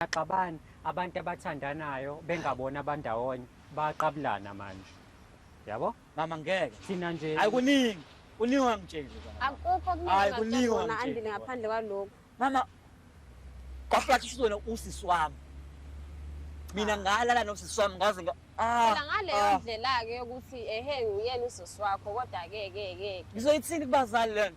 Baxabana abantu abathandanayo bengabona abandawonye baqabulana manje. Yabo? Mama ngeke. Thina nje. Hayi kuningi. Kuningi ongangitsheli. Akukho kuningi ongangitsheli. Andile ngaphandle kwalokho. Mama kwaplathi usizona usisi wami. Mina ah. ngalala nosisi wami ngaze nga Ah, Phela ngaleyo ah. ndlela-ke yokuthi ehe nguyena usisi wakho kodwa-ke ke ke. Ngizoyithini kubazali lento?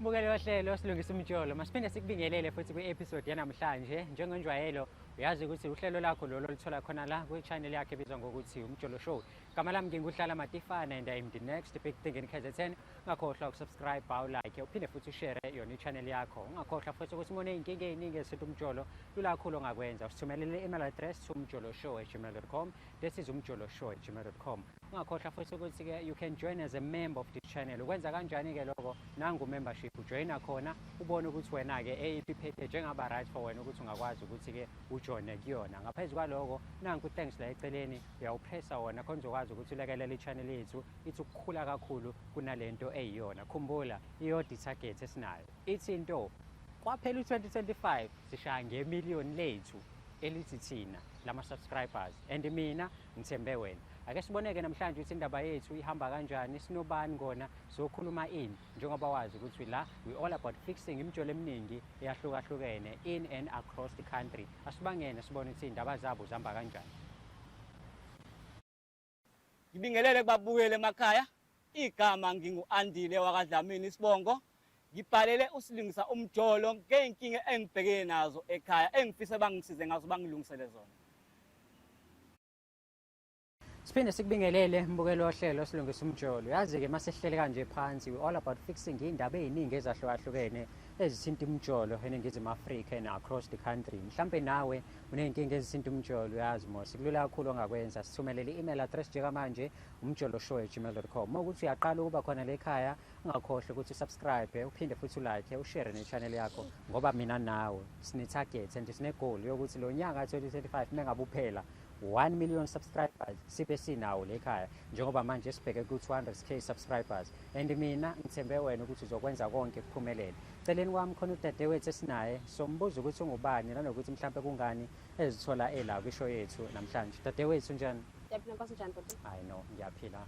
Mbukeli wohlelo silungisa umjolo masiphinde sikubingelele futhi kwi-episode yanamhlanje njengenjwayelo uyazi ukuthi uhlelo lakho lolo oluthola khona la kwi-channel yakhe ebizwa ngokuthi umjolo show gama lami nginguhlala matifana and im the next big thing in kzn ungakhohlwa ukusubscribe ulike uphinde futhi ushere yona i-channel yakho ungakhohlwa futhi ukuthi umone iy'nkinga ey'ningi esintu umjolo lula khulu ongakwenza usithumelele i-email address to umjolo show at gmail com this is umjolo show at gmail com ungakhohlwa futhi ukuthi-ke you can join as a member of this channel ukwenza kanjani-ke lokho nangu membership ujoyina khona ubone ukuthi wena-ke eyiphi package engaba right for wena ukuthi ungakwazi ukuthi-ke ujoyine kuyona ngaphezu kwaloko nanku thanks la eceleni uyawupressa wona khona uzokwazi ukuthi ulekelele i-channel yethu ithi ukukhula kakhulu kunale nto eyiyona khumbula iyodwa i-target esinayo ithi into kwaphela u-2025 sishaya ngemiliyoni lethu elithi thina lama-subscribers and mina ngithembe wena ake siboneke namhlanje ukuthi indaba yethu ihamba kanjani sinobani ngona sizokhuluma ini njengoba wazi ukuthi la we all about fixing imijolo eminingi eyahlukahlukene in and across the country asibangene sibone ukuthi iy'ndaba zabo zihamba kanjani ngibingelele kubabukeli emakhaya Igama ngingu-Andile wakaDlamini isibongo. Ngibhalele usilingisa umjolo ngey'nkinga engibhekene nazo ekhaya engifisa bangisize ngazo bangilungisele zona. Siphinde sikubingelele mbukelo wohlelo silungisa umjolo. Yazi-ke uma sihlele kanje phansi we all about fixing iy'ndaba ey'ningi ezahlukahlukene ezithinta umjolo eningizimu Afrika and across the country. Mhlampe nawe uney'nkinga ezithinta umjolo uyazi mos kulula kakhulu ongakwenza sithumelele i-email address njengamanje umjoloshow@gmail.com uma ukuthi uyaqala ukuba khona le khaya ungakhohlwa ukuthi usubscribe uphinde futhi ulike ushare ne-channel yakho ngoba mina nawe sine-target and sine-goal yokuthi lo nyaka 2025 mengabe uphela 1 million subscribers sibe sinawo le khaya njengoba manje sibheke ku-200k subscribers and mina ngithembe wena ukuthi uzokwenza konke kuphumelele celeni kwami khona udadewethu esinaye sombuza ukuthi ungubani nanokuthi mhlawumpe kungani ezithola ela kwisho yethu namhlanje dadewethu njani ngiyaphila nkosi njani bhuti hayi no ngiyaphila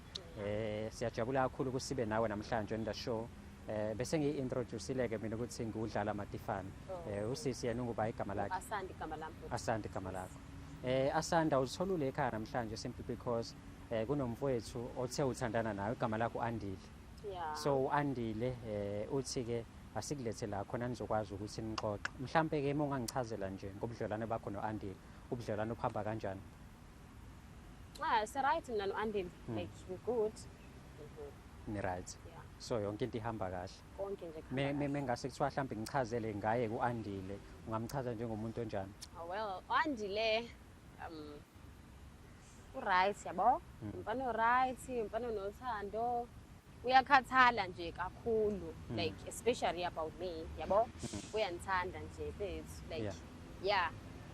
eh siyajabula kakhulu ukuthi sibe nawe namhlanje on the show eh bese ngiyi-introducile-ke mina ukuthi ngiwudlala matifane oh. eh usisi yena unguba igama lakhe asandi igama lami asandi igama lakho eh asanda uzitholule ekhaya namhlanje simply because eh kunomfowethu othe uthandana nawe igama lakho andile Yeah. So uAndile eh uthi ke asikulethe la khona nizokwazi ukuthi nixoxe. Mhlambe ke ungangichazela nje ngobudlelwane bakho noAndile. Ubudlelwane uphamba kanjani? Ah, si right mina noAndile. Hmm. Like we good. Mm-hmm. Ni right. Yeah. So yonke into ihamba kahle. Konke nje khona. Me me ngase kuthiwa mhlambe ngichazele ngaye kuAndile. Ungamchaza njengomuntu onjani? Oh well, uAndile um uright yabo mm. umfana uright umfana unothando uyakhathala nje kakhulu mm. like especially about me yabo mm. uyandithanda nje bethu like yeah, yeah.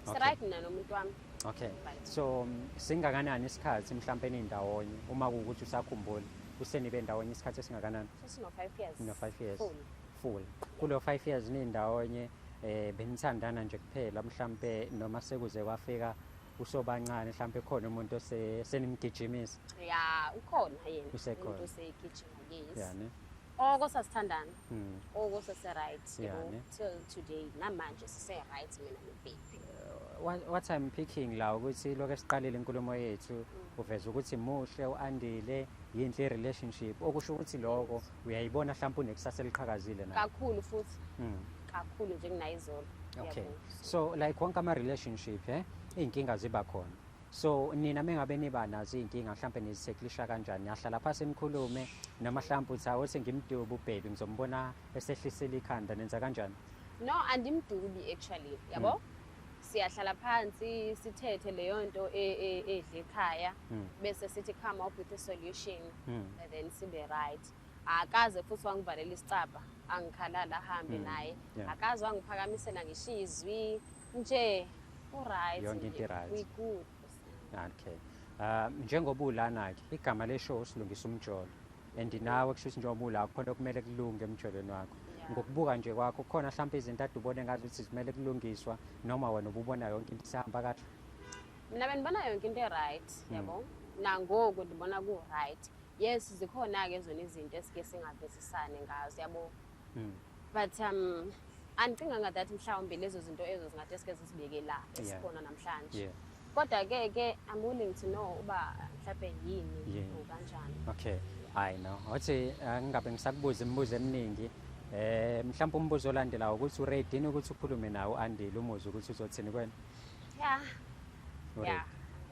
Okay. right mina nomuntu wami okay so um, singakanani isikhathi mhlawumpe nindawonye uma kuwukuthi usakhumbula usenibe ndawonye isikhathi esingakanani sesino-five years no-five years full, full. kulo five years nindawonye um eh, benithandana nje kuphela mhlawumpe noma sekuze kwafika usobancane mhlawumbe khona umuntu osenimgijimisa ya ukhona yena usekhona umuntu osegijima yes yani oko sasithandana hmm. oko sase-right till today namanje sise-right mina nobaby uh, what i'm picking la ukuthi lokho esiqalile inkulumo yethu hmm. uveza ukuthi muhle u-andile yinhle i-relationship okusho ukuthi loko uyayibona mhlawumpe unekusasa eliqhakazile na kakhulu futhi hmm. kakhulu njenginayizolo okay so like wonke ama relationship eh izinkinga ziba khona so nina mengabe niba nazo izinkinga mhlawumbe nizitheklisha kanjani yahlala phansi nikhulume noma mhlawumbe uthi hawu sengimduba ubhebi ngizombona esehlisela ikhanda nenza kanjani no andimdubi actually yabo mm. siyahlala phansi sithethe leyo nto e, e, edle ekhaya mm. bese sithi come up with a solution mm. and then sibe right akaze futhi wangivalela isicabha angikhalala ahambe mm, naye yeah. akaze wangiphakamisela ngishiye izwi nje uright yonke into right we good okay uh, njengoba ulana-ke igama leshow silungisa umjolo and nawe kusho ukuthi njengoba ula khona okumele kulunge emjolweni wakho ngokubuka nje kwakho khona mhlawumpe izinto ade ubone ngazi ukuthi zimele kulungiswa noma wena ububona yonke into isihamba kahle mina bendibona yonke into e-right mm. yabo nangoku ndibona ku-right Yes zikhona ke zona izinto esike singavisisane ngazo yabo. Mm. But um andicinganga that mhlawumbe lezo zinto ezo zingathi esike zisibeke la esikhona namhlanje. Yeah. Kodwa ke ke I'm willing to know uba mhlawumbe yini yeah. kanjani. Okay. Hayi no. Wathi angingabe eh, ngisakubuza imibuzo eminingi. Eh mhlawumbe umbuzo olandelayo ukuthi uready ukuthi ukhulume nawo andile umuzi ukuthi uzothini kwena. Yeah. Yeah.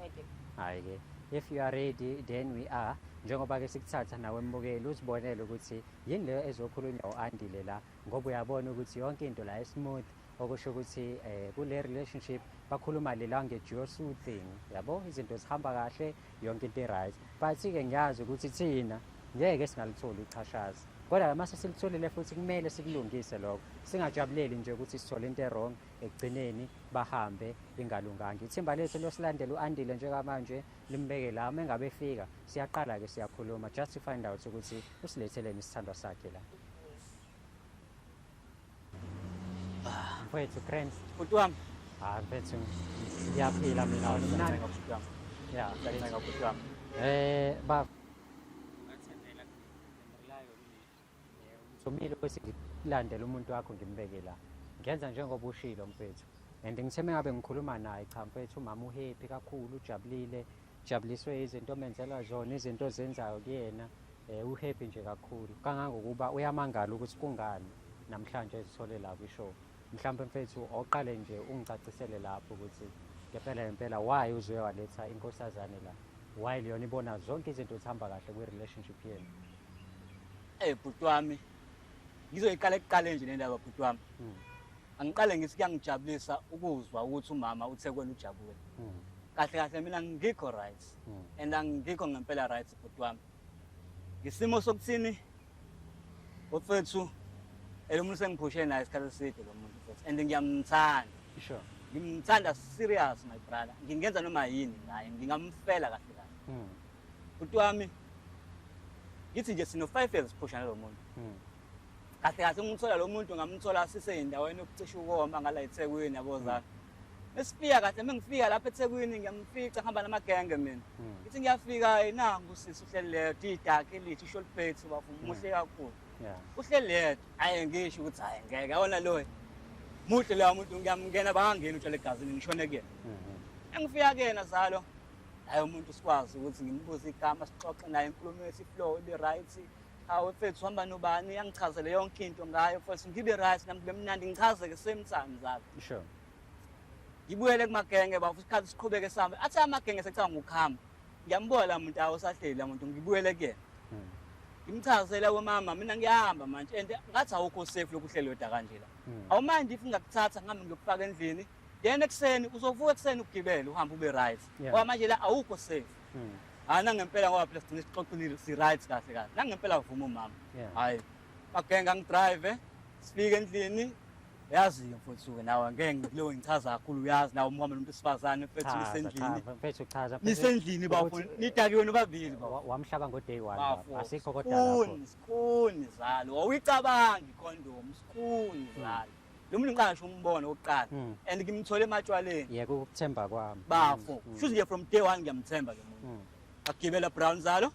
Ready. Hayi ke. If you are ready then we are njengoba ke sikuthatha nawe mbukeli uzibonele ukuthi yini leyo ezokhulunywa uAndile la ngoba uyabona ukuthi yonke into la smooth okusho ukuthi eh kule relationship bakhuluma le language your soothing yabo izinto zihamba kahle yonke into right but ke ngiyazi ukuthi thina ngeke singalitholi ichashazi kodwa mase silitholile futhi kumele sikulungise lokho singajabuleli nje ukuthi sithole into errong ekugcineni bahambe ingalunganga ithimba lethu losilandela u-andile njengamanje limbeke la uma engabe efika siyaqala-ke siyakhuluma just to find out ukuthi usiletheleni isithandwa sakhe la mfowethu grant bhuti wami hayi ah, mfethu ngiyaphila mina mnandi ya um eh, baba Somile ukuthi ngilandele umuntu wakho ngimbeke la. Ngenza njengoba ushilo mfethu. And ngithe mengabe ngikhuluma naye cha mfethu umama uhappy kakhulu ujabulile jabuliswe izinto omenzela zona izinto ozenzayo kuyena eh uhappy nje kakhulu kangangokuba uyamangala ukuthi kungani namhlanje ezithole la kwishow mhlawumbe mfethu oqale nje ungicacisele lapho ukuthi ngempela ngempela why uzoye waletha inkosazane la why leyona ibona zonke izinto zihamba kahle kwi-relationship yenu Eh bhuti wami ngizoyiqala ekuqaleni nje lendaba bhuti wami hmm. angiqale ngithi kuyangijabulisa ukuzwa ukuthi umama uthekwela ujabule hmm. kahle kahle mina ngikho right hmm. and angikho ngempela right bhuti wami ngisimo sokuthini ofethu elomuntu sengiphushe naye isikhathi eside lo muntu futhi and ngiyamthanda sure ngimthanda serious my brother ngingenza noma yini ngaye ngingamfela kahle kahle bhuti wami ngithi nje sino-five years siphusha nalo muntu hmm. kahle kahle ngimthola lo muntu ngamthola siseyindaweni yokucisha ukoma ngala ethekwini yabo hmm. zami esifika kahle uma ngifika lapha ethekwini ngiyamfica ngihamba namagenge mina hmm. ngithi ngiyafika nangu sisi uhleli leyo didakhe elithi ishort pate bafuma umuhle kakhulu uhleli leyedwa aye ngisho ukuthi hhayi ngeke awona loyo muhle loya muntu ngiyamngena bangangeni utshale egazini ngishone kuyena engifika kuyena zalo hayi umuntu sikwazi ukuthi ngimbuze igama sixoxe naye inkulumo yesiflow ibe right hawu mfethu uhamba nobani uyangichazele yonke into ngayo mfethu ngibe right nami kube mnandi ngichazeke same time zalo sure ngibuyele kumagenge bafu isikhathi siqhubeke sihambe athi amagenge sekuthanga ngokuhamba ngiyambuka la muntu awo sahleli la muntu ngibuyele kuyena hmm. ngimchazela wemama mina ngiyahamba manje and ngathi awukho safe lokuhlelwe da kanje la hmm. awumandi if ngakuthatha ngihambe ngiyokufaka endlini then ekuseni uzovuka ekuseni ukugibela uhambe ube right yeah. ngoba manje la awukho safe mm. hayi nangempela ngoba phela sigcine sixoxile si-right kahle kahle nangempela vuma umama hhayi bagenga ngidrive sifike endlini yazi-ke mfowethu suke nawe ngeke ngikuleyo ngichaza kakhulu uyazi nawe umhamba nomuntu wesifazane mfethu nisendlini mfethu chaza nisendlini bafo nidakiwe nobabili wamhlaba ngo-day one asikho kodwa sikhuni sikhuni zalo wawuyicabangi ikhondomu sikhuni zalo lo muntu ngiqala ngisho umbona okokuqala Mm. and ngimthole ematshwaleni yeka ukuthemba kwami bafo Mm, shuthi nje from day one ngiyamthemba lo muntu mm. akugibela brown zalo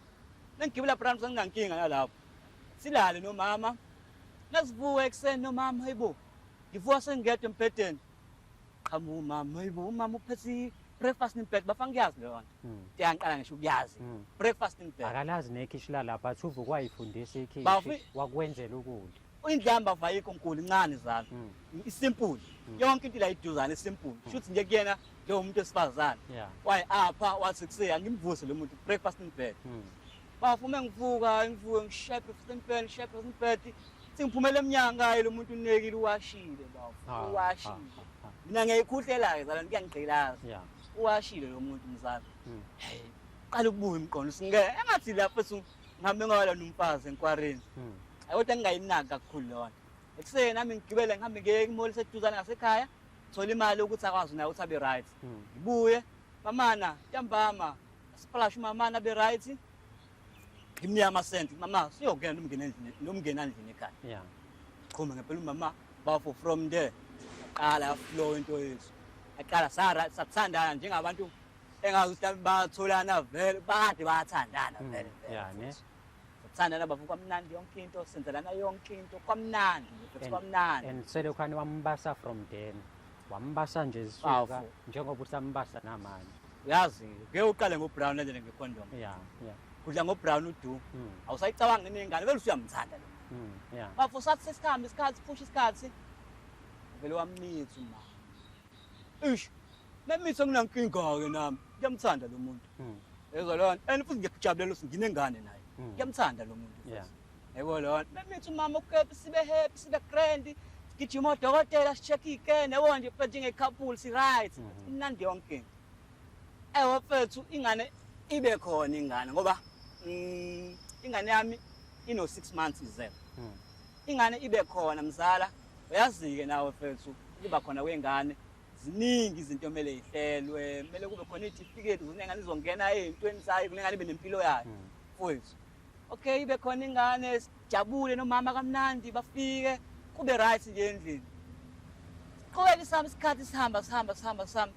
nengigibela brown zalo nginankinga nalapho silale nomama nasivuka ekuseni nomama hayibo ngivuka sengingedwa embhedeni qhamuka umama hayibo umama uphethe i-breakfast in bed bafa ngiyazi leyo nto Mm, ngiyangiqala ngisho ukuyazi mm. breakfast in bed akalazi nekhishi lalapha athi uvukwa yifundisa ikhishi Bafi- wakwenzela ukudla Indlamba vayikho nkulu incane zalo. Hmm. Isimple. Hmm. Yonke into la iduzana isimple. Hmm. Shuthi nje kuyena nje umuntu esifazana. Waye apha wathi kuseya ngimvuse lo muntu breakfast in bed. Bafume ngivuka ngivuke ngishaye breakfast in bed, ngishaye breakfast in bed. Singiphumela emnyanga lo muntu unekile uwashile bawo. Ah, uwashile. Ah, ah, Mina ngiyikhuhlela ke zalo ngiyangigqilaza. Yeah. Uwashile lo muntu mzala. Hey. Qala ukubuya umqondo singe engathi lapho ngihambe ngawalona umfazi enkwarini hmm. kodwa ngingayinaki kakhulu lona ekuseni nami ngigibele ngihambe ngiye imoli seduzane ngasekhaya thola imali ukuthi akwazi naye ukuthi abe right hmm. ngibuye mamana ntambama sipalash umamana abe right ngimnike amasenti mama siyokuyena nomngeni endlini nomngeni andlini ekhaya qhuma ngempela umama bafo from there yaqala yaflow into yethu yaqala sathandana njengabantu engazi ukuthi mhlawumbe batholana vele bakade bathandana Mm, vele vele yeah, ne? futhi. Ukuthandana bafo kwamnandi yonke into senzelana yonke into kwamnandi futhi And- kwamnandi and selokhani wambasa from then wambasa nje zisuka Bafo. njengoba usambasa namanje uyazi ngeke uqale ngobrown endele ngecondom ya ya kudla ngobrown udu Mm, awusayicabanga inengane vele usuyamthanda lo mm, ya bafo sathi sesikhambi isikhathi phusha isikhathi vele wamnitha uma Eish. Namithi anginankinga-ke nami. Ngiyamthanda lo muntu. Mm. Yezwa lona. And futhi ngiyakujabulela ukuthi nginengane naye. Mm. Ngiyamthanda lo muntu. Yeah. Yebo lona. Namithi umama ukephi sibe happy sibe grand. Gijima odokotela si-check iy'kene yabo nje phethe nge-couple si-right. Mhm. Imnandi yonke into. Ewe fethu ingane ibe khona ingane ngoba mm, ingane yami ino-six months izelwe. Mm. ingane ibe khona mzala uyazike nawe fethu ukuba khona kwengane ziningi izinto kumele ihlelwe kumele kube khona itifiketi ukuthi ingane izongena ey'ntweni sayo kumele ingane ibe nempilo yayo hmm. fwethu okay ibe khona ingane sijabule nomama kamnandi bafike kube right nje endlini siqhubeke sihamba isikhathi sihamba sihamba sihamba sihamba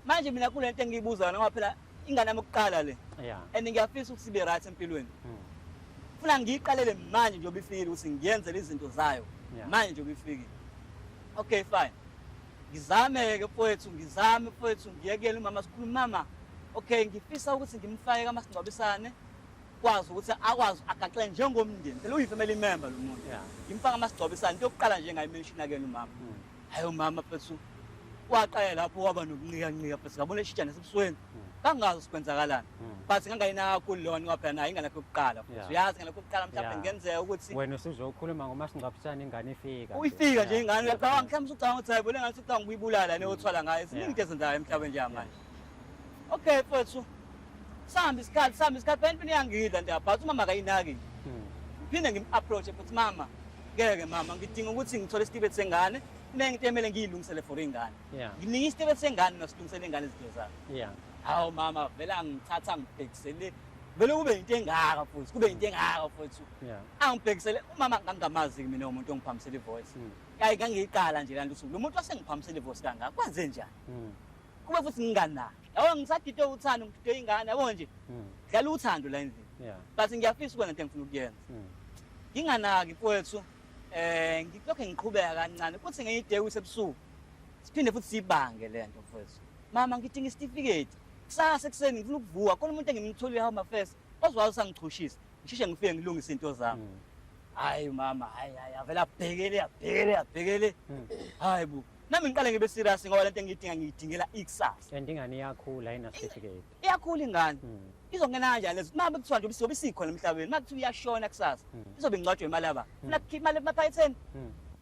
manje mina kule nto engiyibuzayo noma phela ingane yami yokuqala le yeah. and ngiyafisa ukuthi sibe right empilweni mm. funa ngiyiqalele manje njengoba ifikile ukuthi ngiyenzele izinto zayo yeah. manje njengoba ifikile okay fine ngizame-ke mfowethu ngizame mfowethu ngiyekele umama sikhuluma mama okay ngifisa ukuthi ngimfake kamasingcwabisane kwazi ukuthi akwazi agaxele njengomndeni phela uyi-family member lo muntu ngimfake amasingcwabisane into yokuqala nje ngayimenshina kena umama mm. hayi umama mfethu waqala lapho waba nokunqikanqika mfethu ngabona eshitshana esebusweni kangazi sikwenzakalani but ngangayinakho lona waphela naye ingalakho yokuqala mfethu uyazi ngalakho yokuqala mhlawumbe Yeah. kungenzeka ukuthi wena usuzokhuluma ngomasingcwabisane ingane ifika nje. uyifika nje ingane uyacabanga mhlawumbe usucabanga ukuthi hayi bona ngathi ucabanga ukuyibulala le othwala ngayo ziningi into ezenzayo emhlabeni nje manje okay mfethu sihamba isikhathi sihamba isikhathi phela impilo iyangidla nje but umama akayinaki hmm. phinde ngim-approache futhi mama ngeke mama ngidinga ukuthi ngithole isitibeti sengane kunengento emele ngiyilungisele for ingane ngininga isitibeti sengane nosilungisele ingane izinto zakhe hawu mama vele angithatha ngibhekisele vele kube yinto engaka futhi kube yinto engaka futhi angibhekisele umama ngangingamazi-ke mina umuntu ongiphambisela ivoice hmm. kayi ngangiyiqala nje laa nto usuku lo muntu wasengiphambisela ivoice kangaka kwenze njani hmm. kube futhi ngingani naye yabo ngisagide uthando ngigide ingane yabo nje hmm. dlala uthando la endlini but ngiyafisa ukwenza into engifuna ukuyenza hmm. nginganaki mfowethu eh ngilokho ngiqhubeka kancane kuthi ngenye ide kusebusuku siphinde futhi sibange lento mfowethu mama ngidinga isitifiketi kusasa ekuseni ngifuna ukuvuka khona umuntu engimtholile home affairs ozwazi usangichushisa ngisheshe ngifike ngilungise into zami hmm. hayi mama hayi hayi avela abhekele abhekele abhekele hmm. hayi bo Nami ngiqale ngibe serious ngoba lento engiyidinga ngiyidingela ikusasa. Kanti ingane iyakhula ayina certificate. Iyakhula ingane. Hmm. Izongena kanjani lezo? Uma kuthiwa nje ubusiyobe sikhona emhlabeni, uma kuthiwa iyashona kusasa, hmm. izobe ingcwatshwe imali yaba. Hmm. Funa kukhipha imali emaphayetheni.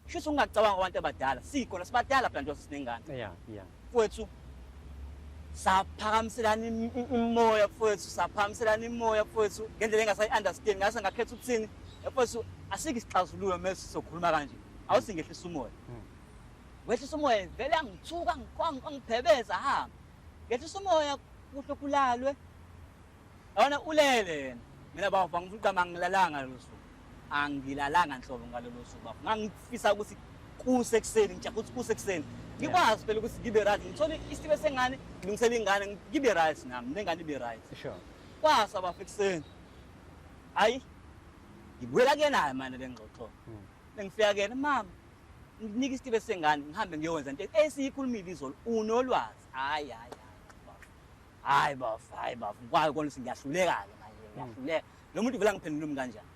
Shuthi ungacabanga abantu abadala. Sikhona sibadala phela nje sinengane. Yeah, yeah. Kwethu saphakamiselana imoya kwethu, saphakamiselana imoya kwethu ngendlela engasayi understand, ngase ngakhetha ukuthini. Kwethu asikho isixazululo mase sokhuluma kanje. Awusingehlisa umoya. wehlisa umoya vele angithuka angibhebeza hamba ngehlisa umoya kuhle kulalwe yona ulele yena mina bafo angifuna ugama ngilalanga lelo suku angilalanga nhlobo ngalelo suku bafo ngangifisa ukuthi kuse ekuseni ngija ukuthi kuse ekuseni ngikwazi phela ukuthi ngibe right ngithole isibe sengane ngilungisele ingane ngibe right nami nengane ibe right sure kwasa bafo ekuseni hayi ngibuyela kuyena-ke manje le ngxoxo hmm. bengifika kuyena mama ngikunike isitibe sengane ngihambe ngiyowenza into esiyikhulumile izolo unolwazi hayi hayi hayi bafo hayi bafo ngikwayo kona ukuthi ngiyahluleka-ke manje hmm. ngiyahluleka lo muntu vele angiphendula umi kanjani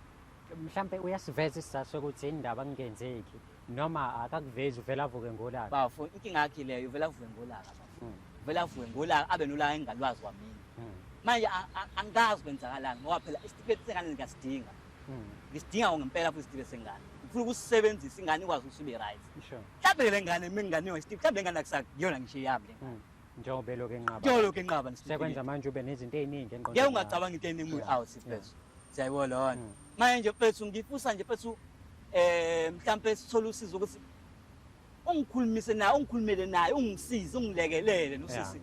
mhlawumpe uyasiveza isizathu sokuthi yini ndaba kungenzeki noma akakuvezi uvele avuke ngolaka bafo inkinga yakhe leyo uvele avuke ngolaka bafo hmm. uvele avuke ngolaka abe nolaka engingalwazi kwamina hmm. manje angazi kwenzakalani ngoba phela isitifiketi sengane ngiyasidinga mm. ngisidinga mm. ngempela futhi sidibe sengane ngifuna ukusisebenzisa ingane ikwazi ukuthi ibe right mhlawumbe le ngane mina ingane yona steve mhlawumbe le ngane akusakuyona ngisho yami le ngane mm. njengoba elokhu enqaba njengoba elokhu enqaba sekwenza manje ube nezinto eziningi engqondweni ngeke ungacabanga into eningi out sifethu siyayibona lona mm. manje mfethu ngifusa nje mfethu eh mhlawumbe sithole usizo ukuthi ungikhulumise naye ungikhulumele naye ungisize ungilekelele nosisi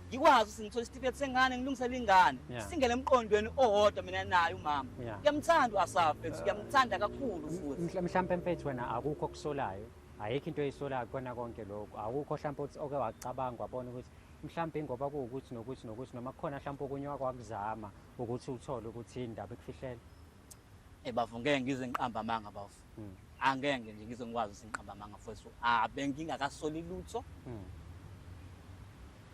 ngikwazi ukuthi ngithole isitifiketi sengane ngilungisele ingane singene emqondweni owodwa mina naye umama kuyamthanda u-asaf mfethu uh, kuyamthanda kakhulu futhi mhlawumpe mfethu wena akukho okusolayo ayikho into eyisolayo kukona konke lokhu awukho mhlawumpe ukuthi oke wacabanga wabona ukuthi mhlawumpe ingoba kuwukuthi nokuthi nokuthi noma kukhona mhlawumpe okunye wakwakuzama ukuthi uthole ukuthi indaba ekufihlele Eh bafo ngeke ngize ngiqamba amanga bafo. Mm. Angeke nje ngize ngikwazi ukuthi ngiqamba amanga mfowethu. Ah bengingakasoli lutho. Mm.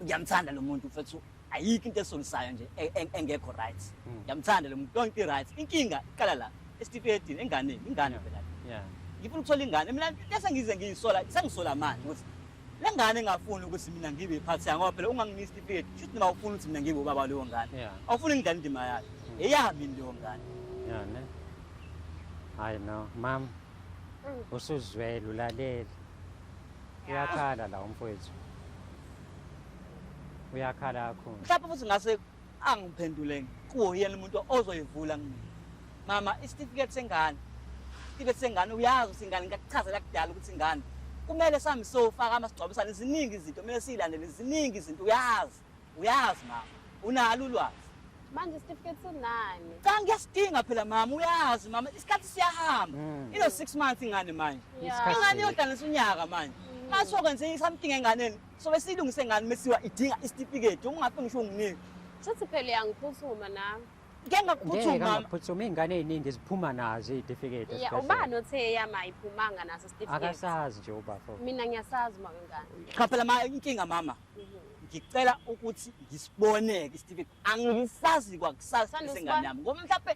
Ngiyamthanda lo muntu mfowethu. Ayikho into esolisayo nje e, e, engekho right. Mm. Ngiyamthanda lo muntu onke right. Inkinga iqala la esitifiketini enganeni ingane phela. Yeah. Ngifuna ukuthola ingane mina lesa ngize ngiyisola sengisola manje ukuthi Le ngane engafuni ukuthi mina ngibe iphathi yayo ngoba phela ungangini isitifiketi kusho ukuthi noma awufuni ukuthi mina ngibe ubaba waleyo ngane. Yeah. Awufuni ngidlale indima yayo. Mm. Eyami yini leyo ngane? Yeah, ne. Hayi no, mama. Mm. Usuzwele ulalele. Uyakhala la umfowethu. Uyakhala kakhulu. Mhlawumbe futhi ngase angiphenduleni kuwo yena umuntu ozoyivula kumina mama isitifiketi sengane isitifiketi sengane uyazi ukuthi ingane ngakuchazela kudala ukuthi ingane kumele sami sofaka amasigcwabisane ziningi izinto kumele siyilandele ziningi izinto uyazi uyazi mama unalo ulwazi manje isitifiketi sinani cha ngiyasidinga phela mama uyazi mama isikhathi siyahamba mm. ino six months ingane manje ingane yodlanisa unyaka manje mm. masokwenze something enganeni sobe siyilungise ngani mesiwa idinga isitifiketi uma ungafi ngisho unginike shuthi phela uyangiphuthuma nami ke ngakuphuthuma mama ngaphuthuma ingane eziningi ziphuma nazo izitifiketi yeah ubani othe yama iphumanga naso isitifiketi akasazi nje ubafo mina ngiyasazi uma kangani cha phela ma inkinga mama mhm. ngicela ukuthi ngisiboneke isitifiketi angisazi kwakusasa sengane yami ngoba mhlawumbe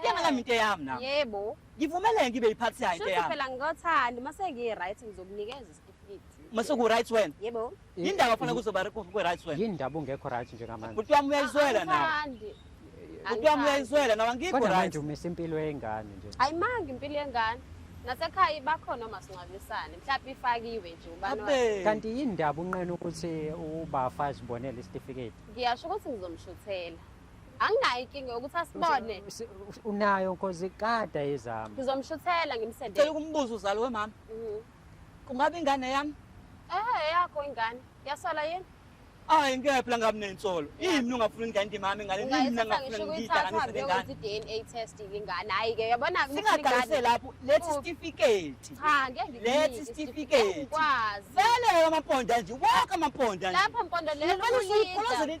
Kuyena nami into eyami nami. Yebo. Ngivumeleke ngibe yiphathi yayo into Shuthi yami. phela ngikothanda mase ngiyi right ngizokunikeza isitifiketi. Mase ku right wena. Yebo. Yindaba fana kuzoba ku right wena. Yini ndaba ungekho right njengamanje? Bhuti wami uyayizwela nawe. Angithandi. Bhuti wami uyayizwela nawe angikho Kodwa right. manje umisa impilo yengane nje. Ayimanga impilo yengane. Nasekhaya bakhona omasingcwabisane. Mhlawumbe ifakiwe nje ubani wayo. Abe. Kanti yini ndaba unqena ukuthi ubafazi bonele isitifiketi? Ngiyasho ukuthi ngizomshuthela. anginayo inkinga yokuthi asibone Si- unayo nkosi kada ezami ngizomshuthela cela ngimsendele ukumbuza uzalo wemama Mhm. kungaba ingane yami ehe yakho ingane yasola yini hayi ngeke phela ngabi nensolo yini ungafuni ingane nje mama ingane yini mina ungayithatha ngafuna ngisho ukuyithatha ngiyidakanyise le ngane uyokwenza i-dna test ingane hhayi-ke yabona singaganise lapho lethi Kuphi? isitifiketi cha ngeke Lethi ngikunike isitifiketi. ngeke ngikwazi vele amamponda nje wonke amamponda nje lapha mpondo Ngempela lelo usuyiqolozele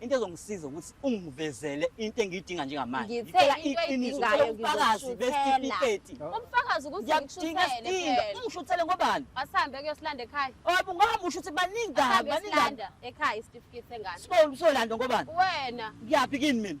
into ezongisiza ukuthi ungivezele into engiyidinga njengamanje ngicela iqiniso ngicela ubufakazi besitifiketi ubufakazi ukuthi ngishuthele ungishuthele ngobani asambe kuyosilanda ekhaya obu ngoba usho ukuthi baningi kabi baningi ekhaya isitifiketi sengane so usolanda ngobani wena ngiyaphi kini mina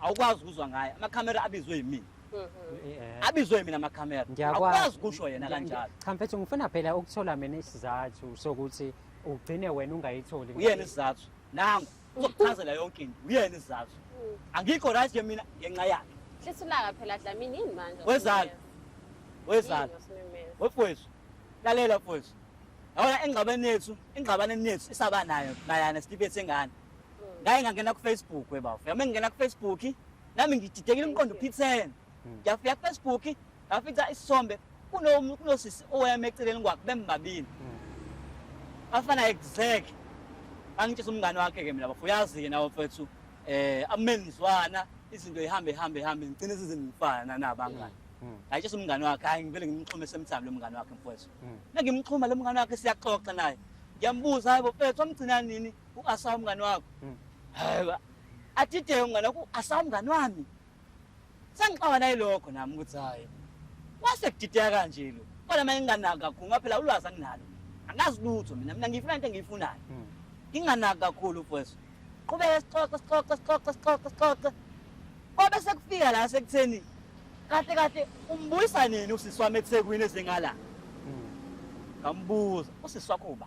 awukwazi ukuzwa ngaye amakhamera abizwe yimina mm-hmm. abizwe yimina amakhamera awukwazi kusho yena kanjalo cha mfethu ngifuna phela ukuthola mina isizathu sokuthi ugcine wena ungayitholi uyena isizathu nangu uzokuchazela yonke into uyena isizathu mm. angikho right ke mina ngenxa yakhe hlisulaka phela dlamini yini manje wezalo wezalo wefowethu lalela mfowethu yabona engxabeni yethu engxabaneni yethu isaba nayo mayana sitibethe ngani ngaye ngangena kufacebook webafo yami ngingena kufacebook nami ngididekile umqondo uphithene hmm. ngiyafika kufacebook ngafica isisombe kunosisi owayame eceleni kwakhe bembabili hmm. bafana exact angitshisa umngane wakhe ke mina bafo uyazi-ke nawo mfethu eh amenzwana izinto ihambe ihambe ihambe ngigcine sizingifana nabangani hmm. ngayitshisa umngane wakhe hayi ngivele ngimxhume semthami lo mngane wakhe mfowethu nangimxhuma lo mngane wakhe siyaxoxa naye ngiyambuza hayi bofethu wamgcina nini Ungasawa umngane wakho. Mm. Hayiba. Atide umngane wakho asawa umngane wami. Sengixawa naye lokho nami ukuthi hayi. Wase kudideka kanje lo. Kodwa manje nginganaki kakhulu ngoba phela ulwazi anginalo. Angazi lutho mina mina ngifuna into engiyifunayo. Mm. Nginganaki kakhulu mfowethu. Qhubeka sixoxe sixoxe sixoxe sixoxe sixoxe. Kwabe sekufika la sekutheni kahle kahle umbuyisa nini usisi wami eThekwini ezengala? Ngambuza usisi wakho uba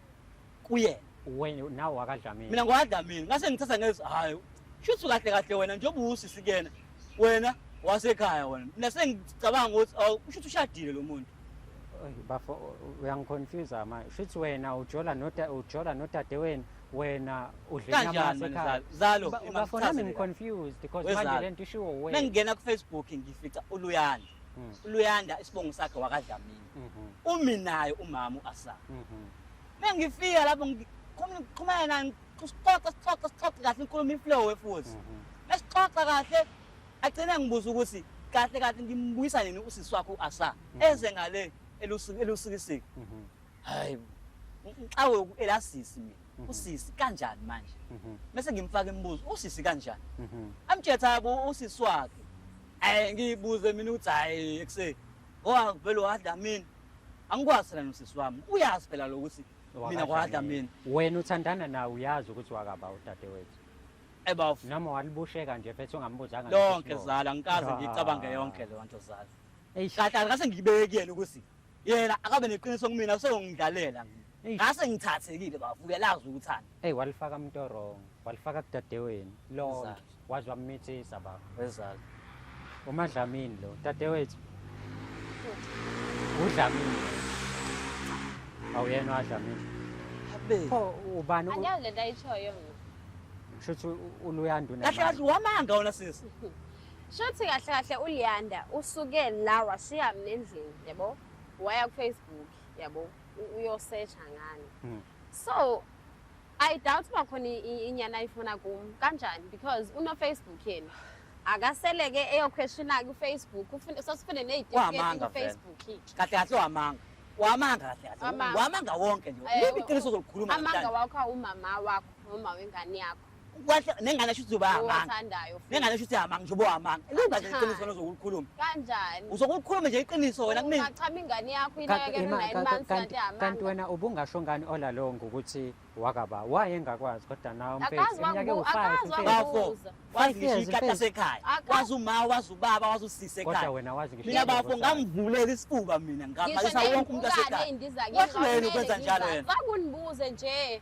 kuyena wena nawe wakadlamini mina ngwadlamini ngase ngithatha ngezi hayi shuthi kahle kahle wena njengoba uwusisi kuyena wena wasekhaya wena mina sengicabanga ukuthi ushuthi ushadile lo muntu bafo uyangiconfuse manje shuthi wena ujola nota ujola nodade wena wena udlenyamazalo bafo nami ngiconfused because manje le nto ishiwo wena mengingena kufacebook ngifica uluyanda hmm. uluyanda isibongo sakhe wakadlamini mhm. umi naye umama u-asam mhm. mengifika lapho ngiqhumana nani sixoxe sixoxe sixoxe kahle inkulumo iflowe futhi mhm. mesixoxa kahle agcine ngibuza ukuthi kahle kahle ngimbuyisa nini usisi wakho u-asa eze ngale elusikisiki hayi ngicawe elasisi mina Mhm. usisi kanjani manje mhm. bese ngimfaka imibuzo usisi kanjani mhm. amtshela ukuthi usisi wakhe eh ngibuze mina ukuthi hayi ekuseni Ngoba vele wadla mina. Angikwazi lana usisi wami. Uyazi phela lokuthi mina kwadla mina. Wena uthandana nawe uyazi ukuthi wakaba udadewethu. Ebaf. Noma walibusheka nje phethe ungambuzanga. Lonke zala ngikaze ngicabange yonke le nto zala. Kahle kahle ngibekele ukuthi yena akabe neqiniso kumina useyongidlalela mina. ngase ngithathekile bafo uyalazi ukuthanda eyi walifaka mntu orong walifaka kudadeweni lonke waze wamithisa bafo wezalo umadlamini lo dadewethu udlamini awuyena wadlamini pho ubani angiyazi le nto ayitshoyo mna shuthi uluyanda kahle kahle wamanga wona sisi shuthi kahle kahle uliyanda usuke la washiya mna endlini yabo waya kufacebook yabo uyosetsha ngani hmm. so i doubt uba khona inyana ayifuna kum kanjani because unofacebook yena akaseleke eyokhweshina kufacebook sosifune neyidfacebook kahle kahle wamanga wamanga kahle kahle wamanga wonke nje libi iqiniso uzolikhuluma amanga wakho awumama wakho noma wengane yakho Kwahle nengane asho ukuthi ubamanga. Owathandayo. Nengane asho ukuthi amanga njobo amanga. Lingaze iqiniso wena uzokulikhuluma. Kanjani? Uzokulikhuluma nje iqiniso wena kumina. Ungachama ingane yakho ineke nina imani sathi amanga. Kanti wena ubungasho ngani ola lo ngokuthi wakaba wayengakwazi kodwa nawo mfethu iminyaka ewu-5 bafo wazi ngisho ikata sekhaya wazi uma wazi ubaba wazi usise ekhaya kodwa wena wazi ngisho mina bafo ngamvulela isifuba mina ngamalisa wonke umuntu asekhaya wahluleni ukwenza njalo yena ngakunibuze nje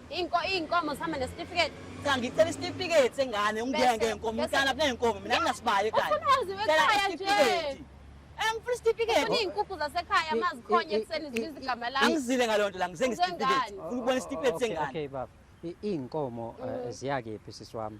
Inko inkomo sihamba nesitifiketi. Cha ngicela isitifiketi sengane ungeke ngenkomo mntana kunenkomo mina nginasibaye ekhaya. Ufunazi wekhaya nje. Angifuna isitifiketi. Ufuna izinkukhu zasekhaya amazikhonye ekuseni zibiza igama lami. Angizile ngaleyo nto la ngize ngesitifiketi. Ufuna ukubona isitifiketi sengane. Okay baba. Izinkomo eh, mm. ziyakephi sisi wami?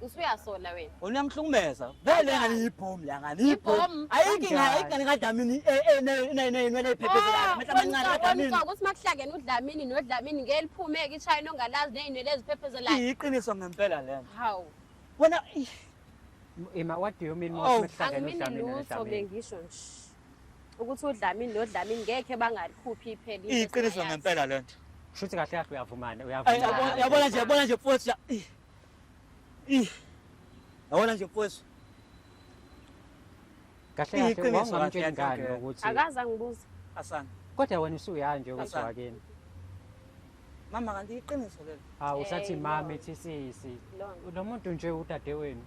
usuyasola wena wena uyamhlukumeza vele ngani yibhomu la ngani yibhomu ayinkinga ayingane kadlamini inwele iphephezi lakhe mehla amancane kadlamini ukuthi makuhlangene udlamini nodlamini ngeke liphumeke ishayini ongalazi nezinwele eziphephezi lakhe iyiqiniso ngempela lena hawu wena ima what do you mean mawuhlangene udlamini nodlamini ngisho nje ukuthi uDlamini noDlamini ngekhe bangalikhuphi ipheli. Iqiniso ngempela lento. Shuthi kahle kahle uyavumana uyavumana. Yabona nje yabona nje mfowethu la. Ih. Yabona nje mfowethu. Kahle kahle wangamtshela ngani ukuthi akaza ngibuza. Asana. Kodwa wena usuyanje ukuthi wakini. Mama kanti iqiniso lelo. Ha usathi Eh, mama no. ethi sisi. Lona. Lo muntu nje udade wenu.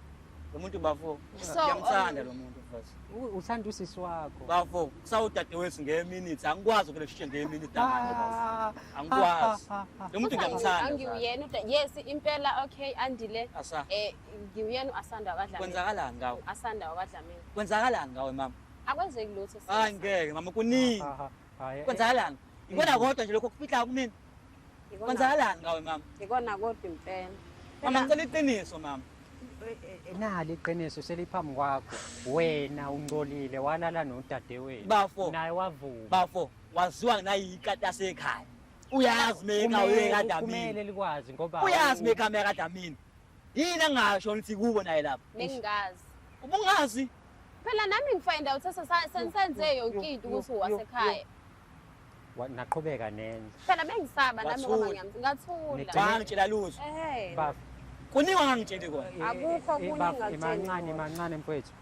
Lo muntu bafo. So, Ngiyamthanda um, lo muntu mfethu. U- Uthanda usisi wakho. Bafo, kusawudade wethu ngeye minute. Angikwazi ukuleshisha ngeye minute manje bafo. Ah, Angikwazi. ah, ah, ah. Lo muntu ngiyamthanda. Zara. angiwuyena uda yes impela okay andile Asa. eh ngiwuyena uasanda wakadlamini Kwenzakalani ngawe? asanda wakadlamini Kwenzakalani ngawe mama? akwenzeki lutho sis. Hayi ngeke mama kuningi. Ah, ah, ah, eh, Kwenzakalani? Ikona kodwa nje lokho kufihlayo kumina. Kwenzakalani ngawe mama? Ikona kodwa impela. Mama ngicela iqiniso mama. Nali iqiniso seliphambi kwakho. Wena ungcolile walala nodadewenu. Bafo. Naye wavuma. Bafo waziwa nayikata sekhaya. Uyazi meka uyekadamini. Kumele likwazi ngoba uyazi meka meka damini. Yini angasho ngithi kubo naye lapha? Bengingazi. Ubungazi? Phela nami ngifind out sensenze yonke into ukuthi wasekhaya. Naqhubeka nene. Phela bengisaba nami ngoba ngiyamthi ngathula. Bangitshela lutho. Eh. Baf. Kuningi angangitsheli kona. Eh, Akukho eh, kuningi ngitshela. Imancane imancane mfowethu.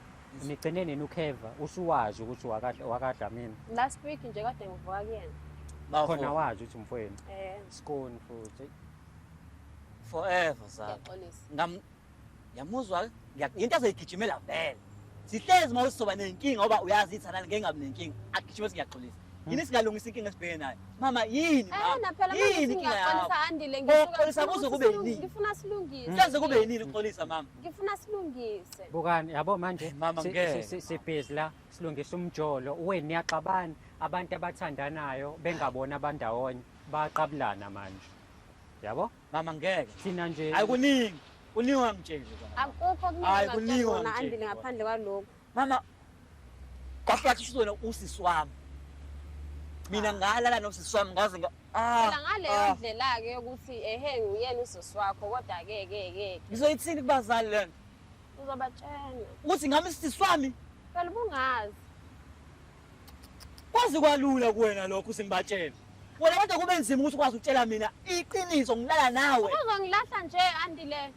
Nigcine nini uKheva usuwazi ukuthi wakadla wakadla mina. Last week nje kade ngivuka kuyena. Bakhona wazi ukuthi mfowenu. Eh. Skoni futhi. forever sa Ngiyaxolisa. ngam yamuzwa yinto azoyigijimela vele sihlezi uma usizoba nenkinga ngoba uyazi ithanani ngeke ngabi nenkinga agijime singiyaxolisa yini singalungisa inkinga esibheke nayo mama yini Eh mama naphela manje yini inkinga yakho singiyaxolisa andile Ukuxolisa kuze kube yini? ngifuna silungise. senze kube yinini uxolisa mama Ngifuna silungise. bukani yabo manje Eh, mama, si- ngeke, si- si- sibhizi la silungisa umjolo weni niyaxabana abantu abathandanayo bengabona abandawonye Bayaqabulana manje. Yabo? Mama ngeke. Thina nje. Hayi kuningi. Kuningi wamtshela. Akukho kuningi wamtshela. Andile ngaphandle kwaloko. Mama kahlathi usizona usisi wami. Mina ah. ngalala nosisi wami ngaze nga Ah. Phela ngaleyo ah. ndlela ke ukuthi ehe nguyena usisi wakho kodwa ke ke ke. Ngizoyithini kubazali lena? Uzobatshena. Ukuthi ngami sisi wami? Phela ubungazi. Kwazi kwalula kuwena lokho usimbatshela. Wena kodwa kube nzima ukuthi ukwazi ukutshela mina iqiniso ngilala nawe. Uzongilahla nje andile.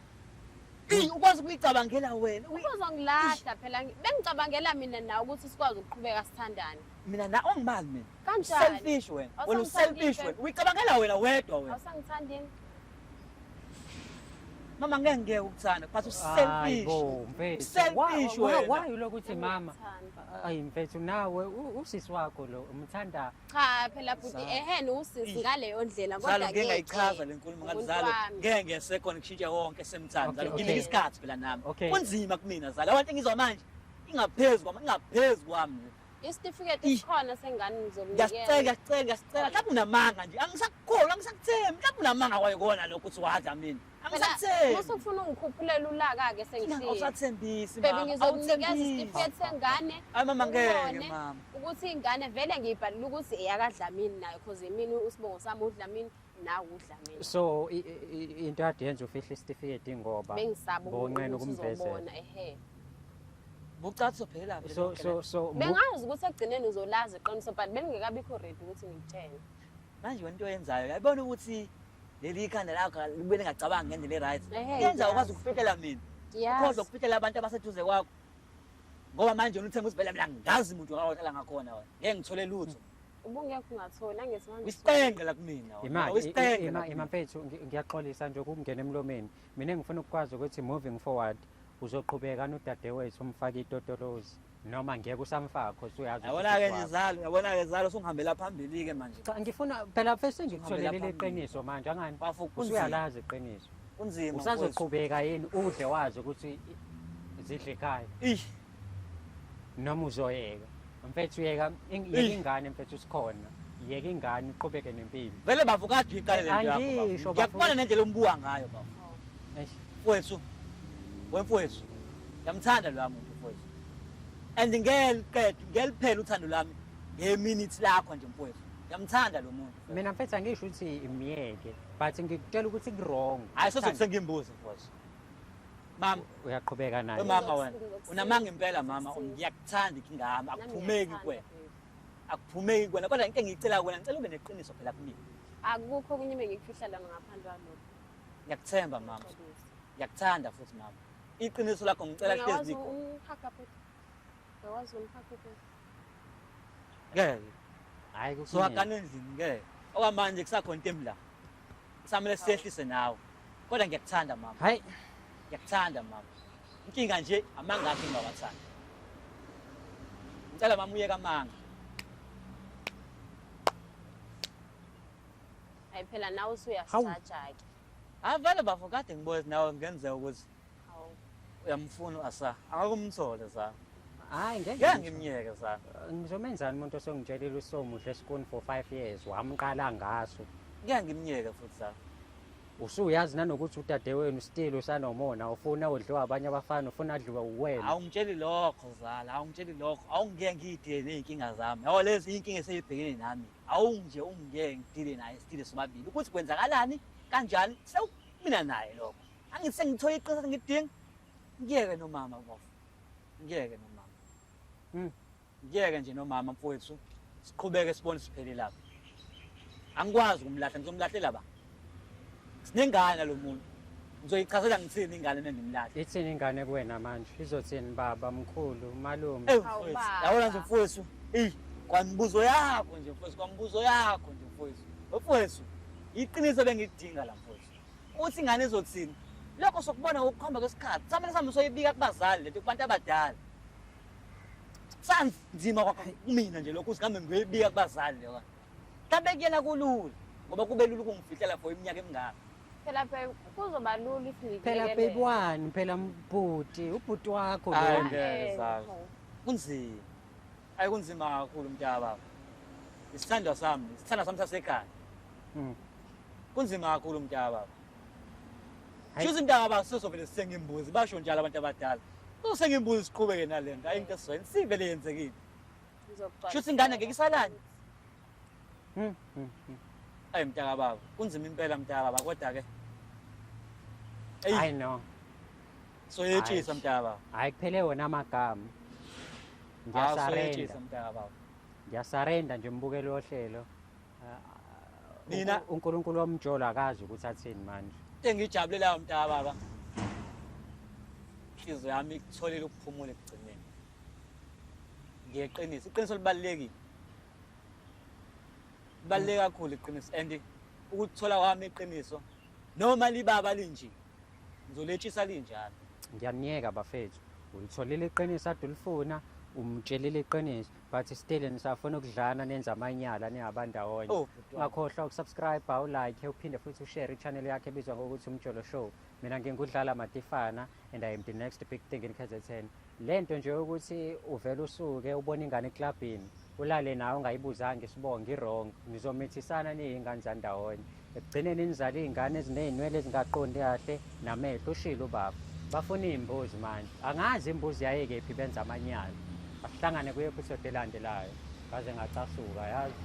Ey ukwazi ukuyicabangela wena. Uy- Uzongilahla phela ngi- bengicabangela mina nawe ukuthi sikwazi ukuqhubeka sithandane. Mina na ongimali mina. Kanjani? Selfish wena. Wena Awusangithandi selfish ke. wena. Uyicabangela wena wedwa wena. Awusangithandi yini? Mama ngeke ngeke ukuthanda but uselfish. Selfish wena. Why ulokhu uthi mama? Ayi mfethu nawe usisi wakho lo umthanda. Cha phela bhuti ehene usisi ngaleyo ndlela kodwa ngeke. Ngingayichaza lenkulumo ngazalo. Ngeke ngesekho ngishintshe wonke semthanda. Nginika isikhathi phela nami. Kunzima kumina zala. Abantu ngizwa manje ingaphezulu kwami ingaphezulu kwami. Isitifiketi esikhona sengane ngizokunikeza. Ngiyacela, ngiyacela, ngiyacela. Mhlawumbe unamanga nje. Angisakukholwa, angisakuthembi. Mhlawumbe unamanga kwayikona lokho ukuthi wadla mina. Angisakuthembi. Mase ufuna ungikhuphulela ulaka ke sengisile. Awusathembisi mama. Baby ngizokunikeza isitifiketi sengane. Hayi mama ngeke mama. Ukuthi ingane vele ngiyibhalile ukuthi eyakadlamini nayo because yimini usibongo sami udlamini. nawe udlamini so into ade yenza ufihla isitifiketi ngoba bengisaba bonqena ukumvezela ehe bucathi sophela vele so so so bengazi ukuthi ekugcineni uzolazi iqiniso but bengekabikho ready ukuthi ngitshele manje wena into oyenzayo yayibona ukuthi leli ikhanda lakho libe lingacabanga ngendlela e-right yenza ukwazi ukufihlela mina ukhoza ukufihlela abantu abaseduze kwakho ngoba manje unithemba ukuthi vele mina ngazi muntu ngahlala ngakhona wena ngeke ngithole lutho ubungekho ungatholi angesihambisile wisipenge la kumina imali wisipenge la imali mfethu ngiyaxolisa nje ukungena emlomeni mina ngifuna ukukwazi ukuthi moving forward uzoqhubeka nodadewethu umfake itotolozi noma ngeke usamfaka cause uyazi yabona ke ngizalo yabona ke ngizalo sungihambela phambili ke manje cha ngifuna phela first ngikutholele leqiniso manje angani usuyalazi iqiniso kunzima usazoqhubeka yini udle wazi ukuthi zidle ekhaya noma uzoyeka mfethu yeka ing- yeka Eish. ingane mfethu sikhona yeka ingane uqhubeke nempilo vele bafu kade uyiqale lento yakho Angisho, bafu. bafu. ngiyakubona nendlela ombuka ngayo bafu Eish. mfowethu wemfowethu ngiyamthanda loya muntu mfowethu and ngeliqeda ngeliphela uthando lwami ngeminithi lakho nje mfowethu ngiyamthanda lo muntu mfowethu. mina mfethu angisho ukuthi myeke but ngikutshela ukuthi kurong hayi soze kusengimbuze mfowethu Mama uyaqhubeka naye. Mama wena unamanga impela mama ngiyakuthanda ikingama akuphumeki kuwena. Akuphumeki kuwena kodwa into engiyicela kuwena ngicela ube neqiniso phela kumina. Akukho kunye bengikufihla lana ngaphandle kwalokho. Ngiyakuthemba mama. Ngiyakuthanda futhi mama. Iqiniso lakho ngicela lihlezi nikho. Ungihaga futhi. Ngiyakwazi ungihaga futhi. Ngeke. Hayi kusuka kanenzini ngeke. Okwamanje kusakhona into emla. Samele siyehlise nawe. Kodwa ngiyakuthanda mama. Hayi. Ngiyakuthanda mama. Inkinga nje amanga akhe ngiyawathanda. Ngicela mama uyeka amanga. Hayi phela nawe usuyasaja ke. Avale bafo kade ngibona nawe kungenzeka ukuthi uyamfuna uAsa akakumthole za hayi ngeke ngeke ngimyeke za ngizomenzani umuntu osongitshelile usomuhle esikuni for 5 years wamqala ngaso ngeke ngimyeke futhi za usuyazi nanokuthi udade wenu still usanomona ufuna udliwa abanye abafana ufuna adliwe uwena awungitsheli lokho zala awungitsheli lokho awungeke ngidile ney'nkinga zami yabo lezi iy'nkinga eseyibhekene nami awunje ungeke ngidile naye still sobabili ukuthi kwenzakalani kanjani sewumina naye lokho angithi sengithole iqiniso engidinga ngiyeke nomama bofu ngiyeke nomama hmm. ngiyeke nje nomama mfowethu siqhubeke sibone siphele lapho angikwazi ukumlahla ngizomlahlela ba sinengane nalo muntu ngizoyichazela ngithini ingane nendimlahla ithini ingane kuwena manje izothini baba mkhulu malume yabona nje mfowethu eyi kwamibuzo yakho nje mfowethu kwamibuzo yakho nje mfowethu mfowethu iqiniso bengidinga la mfowethu Uthi ingane izothini? Lokho sokubona ngokukhomba kwesikhathi. Samele sami soyibika kubazali lento kubantu abadala. Sanzima kwakho kumina nje lokho usihambe ngiyoyibika kubazali leyo. Kabe kuyena kulula ngoba kube lula ukungifihlela for iminyaka emingaka. Phela babe kuzoba lula if ngikuyekele. Phela baby wani phela mbhuti ubhuti wakho Hayi lo. ngeke zazi. Kunzima. Ayi kunzima kakhulu mntaka baba. Isithandwa sami, isithandwa sami sasekhaya. Mm. Kunzima kakhulu mntaka baba. Hayi. Shuthi mntaka baba sizovele sithenga imbuzi basho njalo abantu abadala. Usenga imbuzi siqhubeke nalento. Ayi into esizweni sivele yenzekile. Shuthi ingane ngeke isalani. Ayi mntaka baba, kunzima impela mntaka baba kodwa ke. Eyi. I know. So yetshisa mntaka baba. Hayi kuphele wona amagama. Ah, Ngiyasarenda. mntaka baba. Ngiyasarenda nje mbukeli wohlelo. Ah, Nina- unku- uNkulunkulu womjolo akazi ukuthi athini manje. Engijabulelayo mntaka baba. Inhliziyo yami ikutholile ukuphumula ekugcineni. Ngiyeqinisa, iqiniso libalulekile. Baleke kakhulu iqiniso and ukuthola kwami iqiniso noma libaba linje ngizoletshisa linjalo. Ngiyamyeka bafethu. Ulitholile iqiniso adulifuna umtshelile iqiniso but still nisafuna ukudlana nenza amanyala ningabandawonye oh, ungakhohlwa ukusubscribe ulike uphinde futhi ushare ichannel yakhe ebizwa ngokuthi umjolo show mina ngingudlala matifana and i am the next big thing in kzn Lento nje ukuthi uvela usuke ubona ingane eclubini ulale nawe ungayibuzanga isibongo i-wrong nizomithisana niyingane zandawonye ekugcineni nizala iy'ngane ezineynwele ezingaqondi kahle namehlo ushile ubaba bafuna iy'mbuzi manje angazi imbuzi yayekephi benza amanyala asihlangane kuye episode elandelayo ngaze ngacasuka yazi